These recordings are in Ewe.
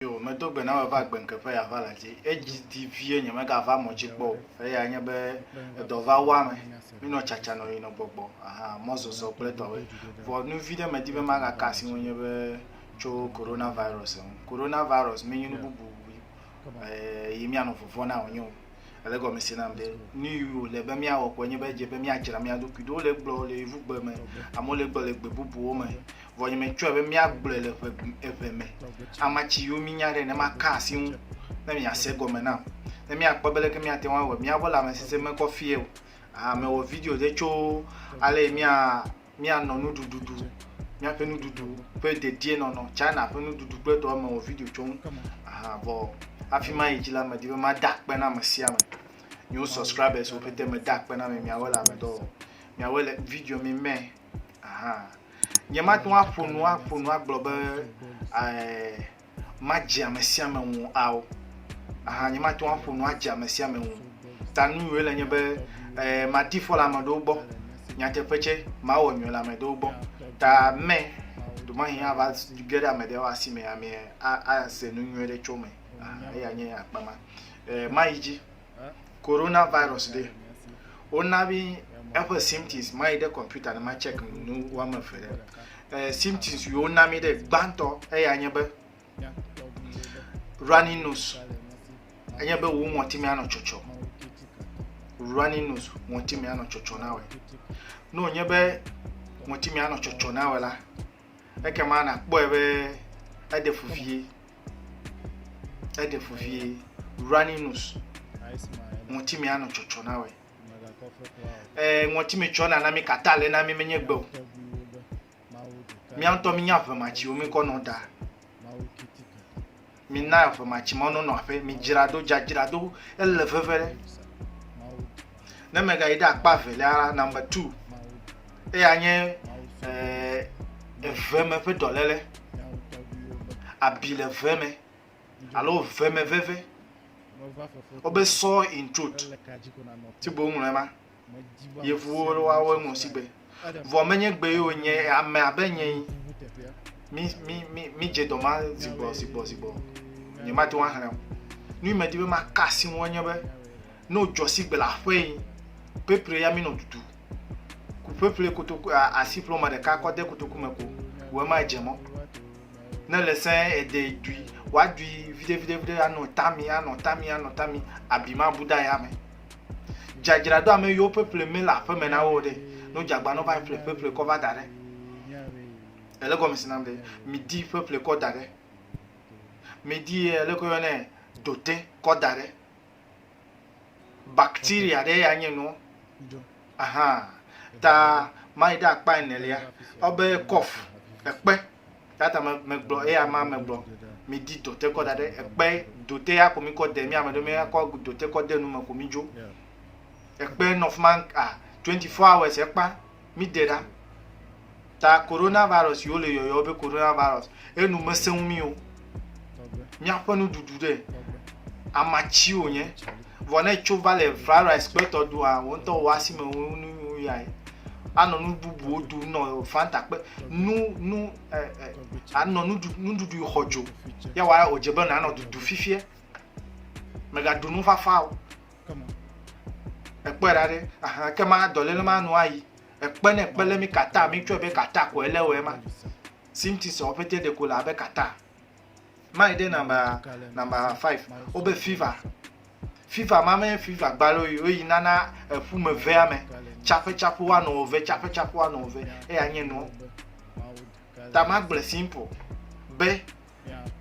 Yo, medo gbe na wò eva gbe ŋkeƒe ya va la dzi. Edzi di vie nye mega va mɔ dzi kpɔ o. Eya nye be edɔ va wa me. Mi nɔ tsatsa nɔ yi nɔ gbɔgbɔ. Aha, mɔ zɔzɔ kple tɔwe. Vɔ nu vi ɖe me di be maga ka asi ŋu nye be tso Corona virus ŋu. Corona virus me nyi nu bubu yi mi anɔ vɔvɔ na wò nyo. Ele gɔme se nam be nu yi wòle be míawɔ koe nye be edze be míadzra mía ɖokui ɖo. Wole egblɔ le yevugbe me, amewo le egblɔ le gbe bubuwo me. Vɔ nye metsɔe be míagblɔe le ʋe eve me. Ama tsi yiwo mínya ɖe ne maka asi ŋu ne miase gɔme nam. Ne míakpɔ be leke míate ŋu awɔe míaƒe lãmesesẽ mekɔ fie o. Ah mewɔ video ɖe tso ale yi mía míanɔ nuɖuɖuɖu míaƒe nuɖuɖu ƒe dedienɔnɔ china ƒe nuɖuɖu kple tɔwo me wɔ video tso ŋu aha vɔ hafi ma yi dzi la medi be mada akpe na ame sia ame miwo subscribers wo pete meda akpe na mi miawo le ame dɔ wɔm miawo le video mi me aha nye mate ŋu aƒo nu aƒo nu agblɔ be ɛɛ madze ame sia ame ŋu ao. Aha, nyemate ŋu aƒo nu adze ame sia ame ŋu. Ta nu nyui le nye be eh, madi fɔ le ame ɖewo gbɔ. Nyateƒe tsɛ, mawɔ nyui le ame ɖewo gbɔ. Ta mɛ, ɖemahin ava ge ɖe ame ɖewo asi me amee ase nu nyui ɖe tso me. Aha, eya nye akpa ma. Eh, mayi dzi. Corona virus ɖe, wona mi eƒe symptoms mayi ɖe kɔmputa ne ma check nu woame eve ɖe. Eh, symptoms yi wona mi ɖe gbãtɔ eya nye be running nose, enye be wo ŋɔtime anɔ tsɔtsɔ. Running nose, ŋɔtime anɔ tsɔtsɔ na wɔ. Ne wònye be ŋɔtime anɔ tsɔtsɔ na wɔ la, ekema nakpɔe be eɖe fu vie. Eɖe fu vie. Running nose. Ŋɔtime anɔ tsɔtsɔ na wɛ. Ee, ŋɔtime tsɔ nana mi kata le na mi menye gbe o. Mía ŋutɔ mi nya vematsiwo mi kɔ nɔ da. Mi na vematsime nɔ nɔ aƒe. Mi dzra do dzadzra do ele veve ɖe. Ne megayi ɖe akpa evelia la, number two, eya nye eh, eve me ƒe dɔléle, abi le ve me alo ve me veve. Wobe sore in throat, ti bo ŋlɔe ma. Yevuwo wawo ŋlɔ sigbe Vɔ menye gbe yewo nye ame abe nye yi. Mi mi mi mi dze dɔma zigbɔ zigbɔ zigbɔ. Nye ma te ŋu axlẽ o. Nu yi medi be maka asi ŋu enye be ne wodzɔ si gbe le aƒe yi pepre ya mi nɔ dudu. Ku pepre kotoku asi ƒlɔ ma ɖeka kɔ de kotoku me ko. Wɔ ma dze mɔ. Ne le sɛ ede dui wa dui vide vide vide anɔ tami anɔ tami anɔ tami abi ma bu da ya me. Dzadzra do ame yiwo ƒeƒle me le aƒeme na wo ɖe. Ne wodze agbanɔ va yi ƒle ƒeƒle kɔ va da ɖe. Ele gɔme si nam ɖe. Mi di ƒeƒle kɔ da ɖe. Mi di ye ele kɔ yɔ ne dote kɔ da ɖe. Bacteria ɖe ya nye nua. Aha, ta mai ɖe akpa enelia, ɔ be kɔf, ekpe, tata me me gblɔ eya ma me gblɔ mi di dote kɔ da ɖe ekpe dote ya ko mi kɔ de mi ame ɖe mi ya kɔ dote kɔ de nu me ko mi dzo ekpe nɔ fuma a 24 hours ekpa mi de ɖa ta coronavirus si wole yɔyɔ be coronavirus enu mesẽ ŋu mí o. Míaƒe nuɖuɖu ɖe amatsi wònye vɔ ne tso va le virus kpetɔ ɖua wò ŋutɔ wò asi me wò nu nu ya yi. Anɔ nu bubuwo ɖu nɔ fanta kpe nu nu ɛ ɛ anɔ nuɖu nuɖuɖu xɔ dzo ya wa wòdze be nanɔ dudu fifia. Mègaɖu nufafa o. Ekpɔe ɖa ɖe ahan ke ma dɔléle ma nu ayi. Ekpe ne ekpe le mi kata mi tsɔe be kata ko ele wɔ ema. Sinti sɔ pete de ko la be kata. Mai de namba namba 5. O be fever. Fever ma me fever gbalo yi o yi nana efu me ve ame. Chape chape wa no ve chape chape wa no ve. E ya nye no. Ta ma gble simple. Be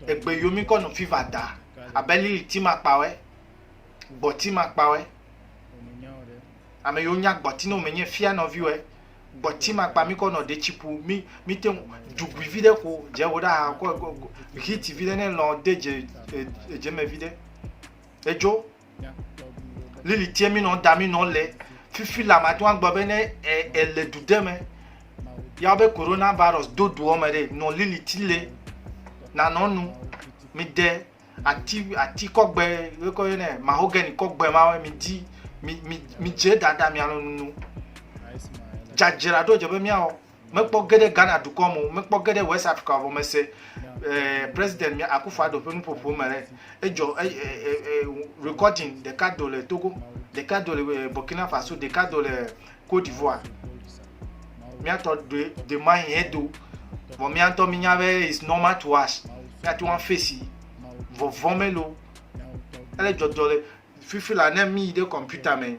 egbe yo mi ko no fever da. Abeli ti ma kpawe. Gbɔ ti ma kpawe. Ame yiwo nya gbɔti nɔ menye fia nɔviwɔe. Gbɔti makpa mi kɔ nɔ detsi ƒu mi mi te dugui vi ɖe ko dze wo ɖa ha kɔ hit vi ɖe ne lɔ de dze edze me vi ɖe. Edzo. Lili tie mi nɔ da mi nɔ le fifi la ma tɔn gbɔ be ne ele du de me. Ya be corona virus do doɔ me ɖe nɔ lili ti le nanɔ nu mi de ati ati kɔgbe wokɔ yɔ nɛ mahogany kɔgbe ma mi di mi mi mi dze dada mi alɔ nunu dzadzra ɖo dze be miawɔ mekpɔ ge ɖe ghana dukɔ me o mekpɔ ge ɖe west africa vɔ mese eh, president mi akufo ado ƒe nuƒoƒo me ɖe edzɔ eh, eh, eh, eh, recording ɖeka do le togo ɖeka do le eh, burkina faso ɖeka do le Côte d'Ivoire. Míatɔ ɖe demain yɛ do. Vɔ míatɔ mínya be is normal to us. Míate ŋu afesi vɔvɔ melo. Ele dzɔdzɔ le fifi la ne míyi ɖe kɔmputa mɛ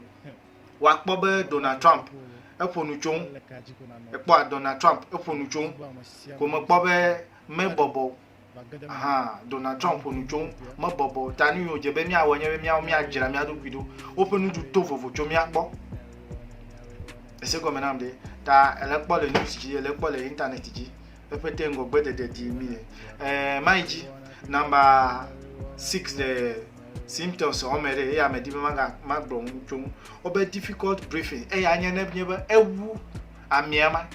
woakpɔ be Donald Trump eƒo nu tso ŋu. Ekpɔa Donald Trump eƒo nu tso ŋu. Ko mekpɔ be mebɔbɔ Aha, Donald Trump ƒo nu tso ŋu, mebɔbɔ o. Ta nu yi wòdze be míawɔe nye be míawo míadzra mía ɖokui ɖo. Woƒe nuɖu to vovo tso mía gbɔ. Ese gɔme nam ɖe. Ta ele kpɔ le news dzi, ele kpɔ le internet dzi. Eƒe te ŋgɔgbe ɖeɖe ɖi mi le. Eh, mai dzi, number six le symptoms wɔme ɖe, eya me di be maga magblɔ nu tso ŋu. Wobe difficult breathing, eya nye ne nye be ewu amea ma.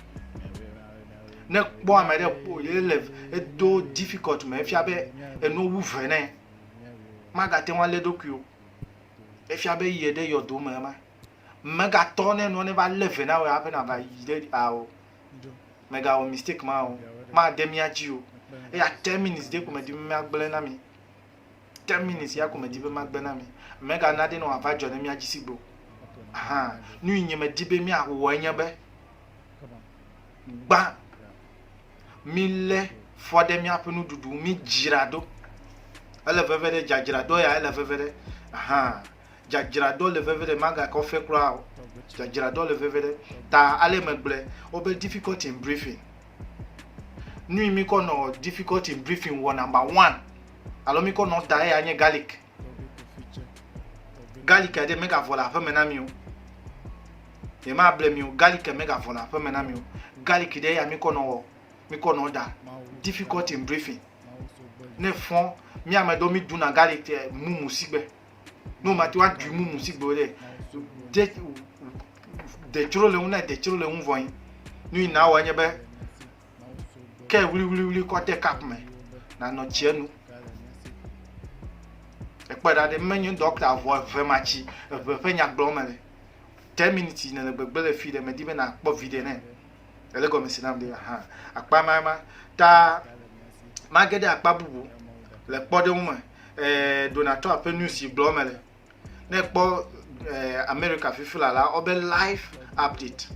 Ne kpɔ ame ɖe ƒo ye le edo difficult me efia be enu wu ve nɛ. Magate ŋu alé ɖokui o. Efia be yi ɖe yɔdo me ema. Megatɔ ne nua ne va lé ve na wò hafi nàva yi ɖe ao. Megawɔ mistake ma o. Made mía dzi o. Eya ten minutes ɖe ko medim be míagblẽ na mi. ten minutes ya ko medi be magbe na mi mega na ɖe ne wòava dzɔ ɖe mía dzi sigbo hã nu yi nye medi be míawɔ enye be gbã mílé fɔ ɖe míaƒe nuɖuɖu mídzra ɖo ele veve ɖe dzadzra ɖo ya ele veve ɖe hã Dzadzraɖoa le veve ɖe, magakɔ ɔfe kura o. Dzadzraɖoa le veve ɖe. Ta ale megblɔe, wobe difficulty in briefing. Nui mi kɔ nɔ difficulty in briefing wɔ number one, alo mi kɔ nɔ da eya nye garlic. Garlic ɖe megavɔ le aƒeme na mi o. Ye ma ble mi o, garlic megavɔ le aƒeme na mi o. Garlic ɖe eya mi kɔ nɔ wɔ, mi kɔ nɔ da. Difficulty in briefing. Ne fɔn, mi ame ɖewo mi ɖuna garlic eh, mumu sigbe. ne womate ŋu aɖui mumu si gbe wòle de detsro le ŋu na detsro le ŋu vɔ yi nu yi nawɔ nye be ke wliwliwli kɔ de kap me nanɔ tsia nu ekpɔ ɖa ɖe menye dɔkta vɔ eve ma tsi eve ƒe nyagblɔ me le ten minutes yi ne le gbegbe le fi ɖe medi be nakpɔ viɖe nɛ ele gɔme si nam be hã akpa ma ma ta mage ɖe akpa bubu le kpɔɖeŋu me eh, Donald Trump ƒe news si gblɔ me le ne kpɔ eh, America fifi la la ɔbe live update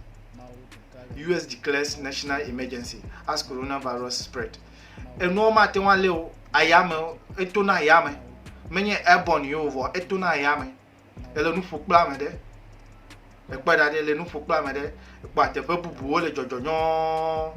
US declares national emergency as coronavirus spread enuwo mate ŋu alé o ayame etona ayame menye airborne yewo vɔ etona ayame ele nu ƒo kple ame ɖe ekpɔe ɖa ɖe le nu ƒo kple ame ɖe ekpɔ ateƒe bubuwo le dzɔdzɔ nyɔɔ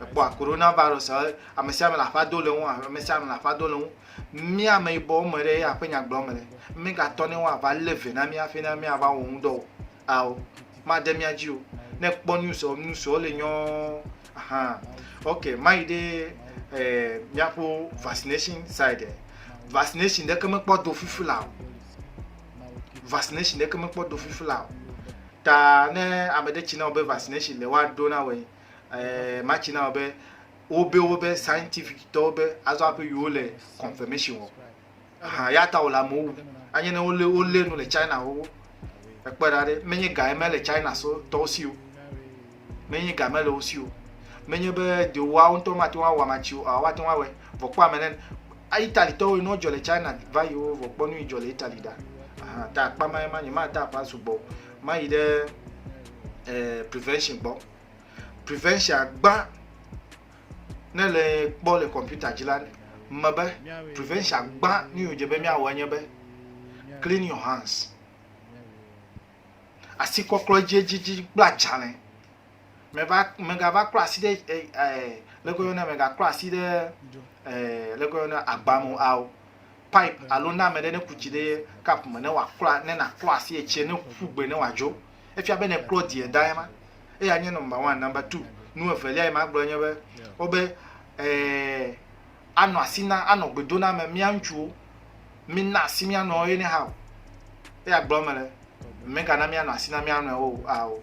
ekpɔ corona virus ame sia ame le aƒa do le ŋu ame sia ame le aƒa do le ŋu mía ame yibɔ me ɖe aƒe nya gblɔm le megatɔ ne woava lé ve na mí hafi ne míava wɔ ŋudɔ o Ao, made mía dzi o. Ne kpɔ news ɔ, news ɔ le nyɔ ahan. Ok, mayi ɖe eh, míaƒo vaccination side. Vaccination ɖeke mekpɔ do fifi la o. Vaccination ɖeke mekpɔ do fifi la o. Ta ne ame ɖe tsi na wò be vaccination le woaɖo na wòe, eh, matsi na wò be wobe wobe scientific tɔwo be azɔ aƒe yewo le confirmation wɔ. Aha, eya ta wòle amewo wum. Anye ne wolé wolé nu le China xoxo. Èkpɔe ɖa ɖe, menye ga ye mele China so tɔwo si o. Menye ga mele wo si o. Menye be ɖe woawo ŋutɔ mate ŋu awɔ amatsi o, aa woate ŋu awɔe. Vɔ kpɔ ame ɖe. A Italitɔwo yi ne wodzɔ le China va yi wo vɔ kpɔ nu yi dzɔ le Itali ɖa. Aha, ta akpa ma ye ma, nyemada aƒa sugbɔ o. Mayi ɖe eh, prevention gbɔ. Prevention gbã ne le kpɔ le kɔmputa dzi la me be prevention gbã nu yi wòdze be míawɔ enye be clean your hands asikɔklɔ edziedzidzi kple adzalẽ meva megava klɔ asi ɖe eh, eh, leke yɔna megaklɔ asi ɖe eh, leke yɔna agbame ao pipe alo na ame ɖe ne ku tsi ɖe cup me ne wòaklɔ ne nàklɔ asi etsie ne ƒu gbe ne wòadzo. Efia be nèklɔ die da ema. Eya nye nɔmba one. Nɔmba two, nu evelia yi magblɔ nye be, wobe ee anɔ asi na anɔ gbe do na ame mía ŋutsuwo. Mína asi mía nɔewo ye ne hã o. Eya gblɔm mele. Mègana míanɔ asi na mía nɔewo o ao.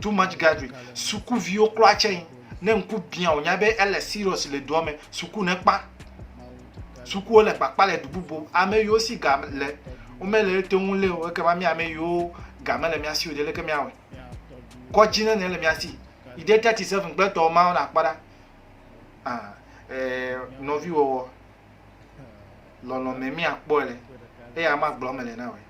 too much gathering sukuviwo kura tsɛ yi ne ŋku biã wònya be ele serious le dua me suku ne kpa sukuwo le kpakpa le du bubu ame yiwo si ga le womele ete ŋu lé o ekema mi ame yiwo ga mele mía si o ɖe leke míawɔe kɔdzi nene le mía si yi ɖe thirty seven gbetɔ mawo nakpɔ ɖa ah eh, nɔviwɔwɔ lɔlɔ̃me míakpɔe le eye ama gblɔ mele na wòe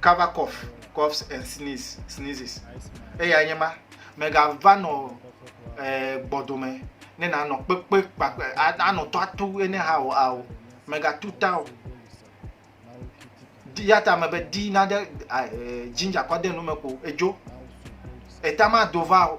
cover cough coughs and sneeze sneezes eya nye ma megava nɔ eh, gbɔdome ne nanɔ kpekpe kpakpe anɔ tɔ atu ene ha o ao megatu ta o ya ta me be di na ɖe eh, ginger kɔ de nu me ko edzo eta ma do va o.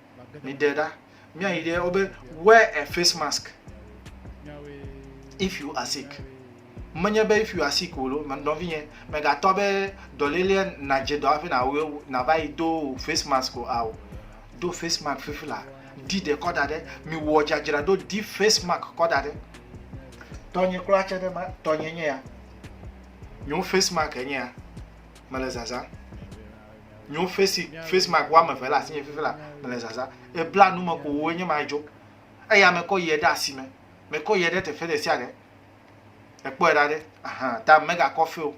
mi ɖe ɖa mia yi ɖe wobe wear a face mask if you are sick menye be if you are sick o lo nɔvi nye megatɔ be dɔlele nadze dɔ afi na wo na va yi do face mask o ao do face mask fifi la di de kɔ da ɖe mi wɔ dzadzra do di face mask kɔ da ɖe tɔnye kura tse ɖe ma tɔnye nye ya nyo face mask enye ya mele zaza Nyo face face mark wo ame eve le asinye fifi la mele zaza e bla nu me ko wo enye ma dzo eya me kɔ yɛ ɖe asime me kɔ yɛ ɖe teƒe ɖe sia ɖe ekpɔ yɛ ɖa ɖe aha ta me ga kɔ fe o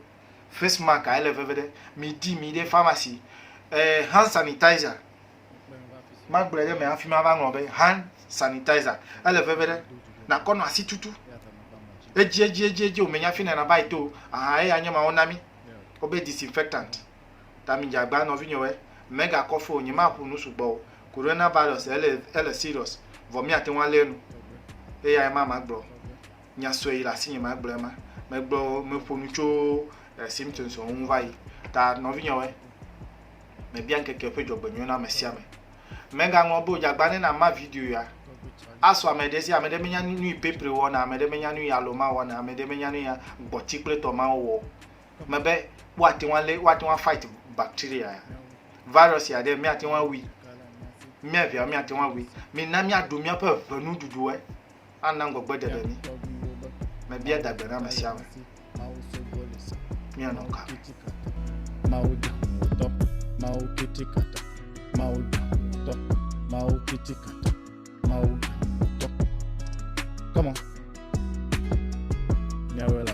face mark a ele veve ɖe mi di mi ɖe pharmacy e hand sanitizer ma gblɔ ɖe me hafi ma va ŋlɔ be hand sanitizer ele veve ɖe na kɔ nɔ asi tutu edzi edzi edzi edzi o me nya fi na na ba yi to aha eya nye ma wo na mi wo be disinfectant Ta mi djagba nɔvinyɔwɛ, mega kɔfe o, nyema ƒu nu sugbɔ o, corona virus ele ele serious vɔ mia teŋu alɛ nu. Eyae ma ma gblɔ. Nya sɔe yi le asinye ma gblɔe ma. Me gblɔ me ƒo nu tso eh, symptoms ɔwo ŋu va yi. Ta nɔvinyɔwɛ, me bia ŋkeke ƒe djɔgbenyuie na mesiame. Mega ŋlɔ be o djagba ne na ma video ya. Asɔ ame ɖe si ame ɖe menya nuyi pepre wɔna, ame ɖe menya nuyi aloma wɔna, ame ɖe menya nuyi gbɔti kple tɔmawo wɔ o. me be woate ŋu alé woate ŋu afight bacteria ya virus ya ɖe míate ŋu awui mía viawo míate ŋu awui mina míaɖu míaƒe ʋenuɖuɖuwoe ana ŋgɔgbe ɖeɖe mí mebia dagbe na ame sia ame míanɔ ka Mawu da ŋutɔ, Mawu kiti kata, Mawu da ŋutɔ, Mawu kiti kata, Mawu da ŋutɔ. Come on. Nyawela.